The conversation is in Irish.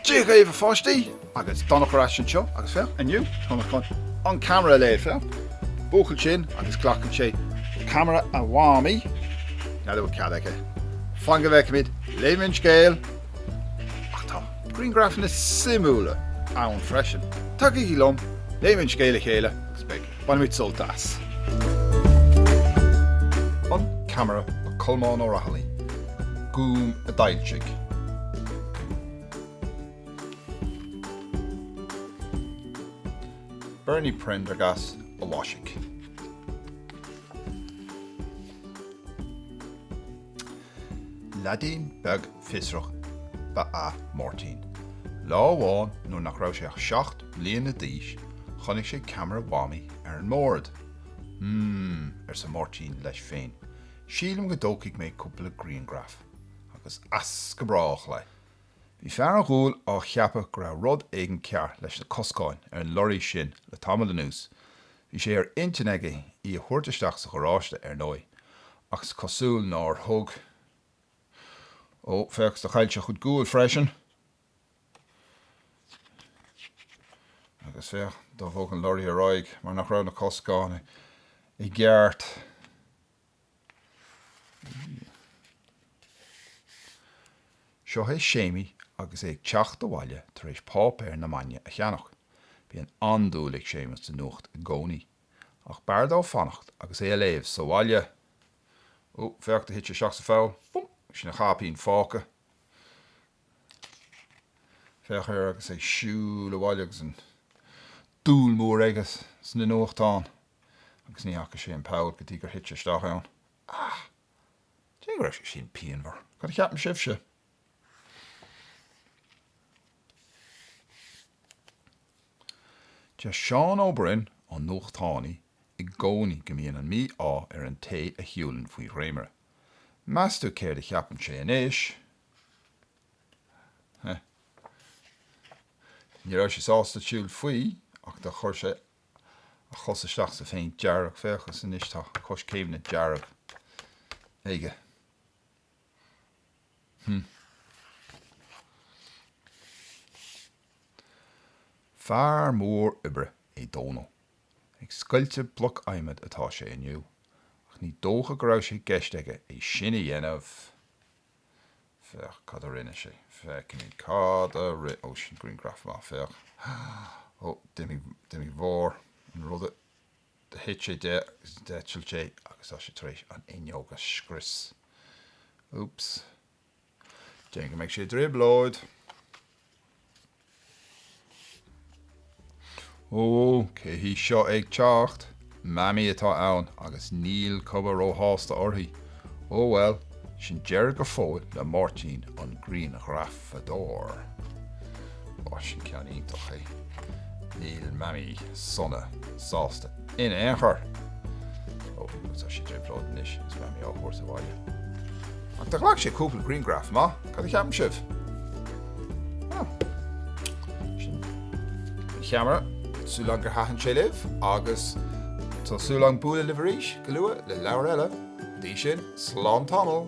Dia dhaoibh a pháistí agus Donncha ar ais anseo agus féach inniu tá mé chun An Ceamara a léamh féach buachaill sin agus glacann sé ceamara a mhamaí, níl cead aige, fan go bhfeicimid, léifimid an scéal! Ach tá grianghrafanna suimiúla ann freisin. Tagaigí liom, léifimid an scéal le chéile agus bainfimid sult as! An ceamara le Colmán Ó Raghallaigh, Gúm a d'fhoilsigh. Bernie Prendergast a mhaisigh. Leaidín beag fiosrach ba ea Máirtín. Lá amháin nuair nach raibh sé ach seacht mbliana d'aois, chonaic sé ceamara Mhamaí ar an mbord. Hmm, arsa Máirtín leis féin, sílim go dtógfaidh mé cúpla grianghraf. Agus as go brách leis! Bhí fear an ghuail á cheapadh go raibh rud éigin cearr leis na coscáin ar an leoraí sin le tamall anuas, Bhí sé ar intinn aige í a thabhairt isteach sa gharáiste, ar ndóigh, ach is cosúil nár thug. Ó, féach, do chaill sé a chuid guail freisin. Agus féach, do bhog an leoraí ar aghaidh mar nach raibh na coscáin i gceart. Seo é Séimí agus é ag teacht abhaile tar éis páipéar na maidne a cheannach. Bíonn an-dúil ag Séamus sa nuacht i gcónaí, ach b'fhearr dó fanacht agus é a léamh sa bhaile! Ó, féach, do thit sé isteach sa pholl! Bum! Sin a chaipín fágtha! Féach air agus é ag siúl abhaile agus an dúil mór aige sna nuachtáin! agus ní fhaca sé an poll go dtí gur thit sé isteach ann. Á, déarfainn go raibh sé sin pianmhar, cad a cheapann sibhse? Deir Seán Ó Broin, an nuachtánaí, i gcónaí go mbíonn an mí-ádh ar an té a shiúlann faoi dhréimire. Meastú céard a cheapann sé anois? Ní raibh sé sásta siúl faoi, ach do chuir sé a chos isteach sa phéint dearg, féach is anois tá coiscéimeanna dearga aige. Hm. Fear mór oibre é Dónal. Ag scoilteadh bloic adhmaid atá sé inniu, ach ní dócha go raibh sé i gceist aige é sin a dhéanamh! Féach cad a rinne sé. Feicimid cad a ri, ó, sin grianghraf maith, féach. Ó, d'imigh, d'imigh barr an ruda, do thit sé de agus d'eitilt sé agus tá sé tar éis an fhuinneog a scrios. Úps. Déarfainn go mbeidh sé i dtrioblóid. Ó, cé hí seo ag teacht? Mamaí atá ann agus níl cuma róshásta uirthi. Ó bhuel, sin deireadh go fóill le Máirtín an grianghrafadóir. Ó, sin ceann iontach é. Níl Mamaí sona sásta. in aon chor. Ó, tá sé i dtrioblóid anois, is Mamaí á thabhairt abhaile. Ach do ghlac sé cúpla grianghraf maith, cad a cheapann sibh? Ó, sin An Ceamara, súil agam gur thaitin sé libh, agus tá súil agam bualadh libh arís go luath le leabhar eile, go dtí sin. Slán tamall.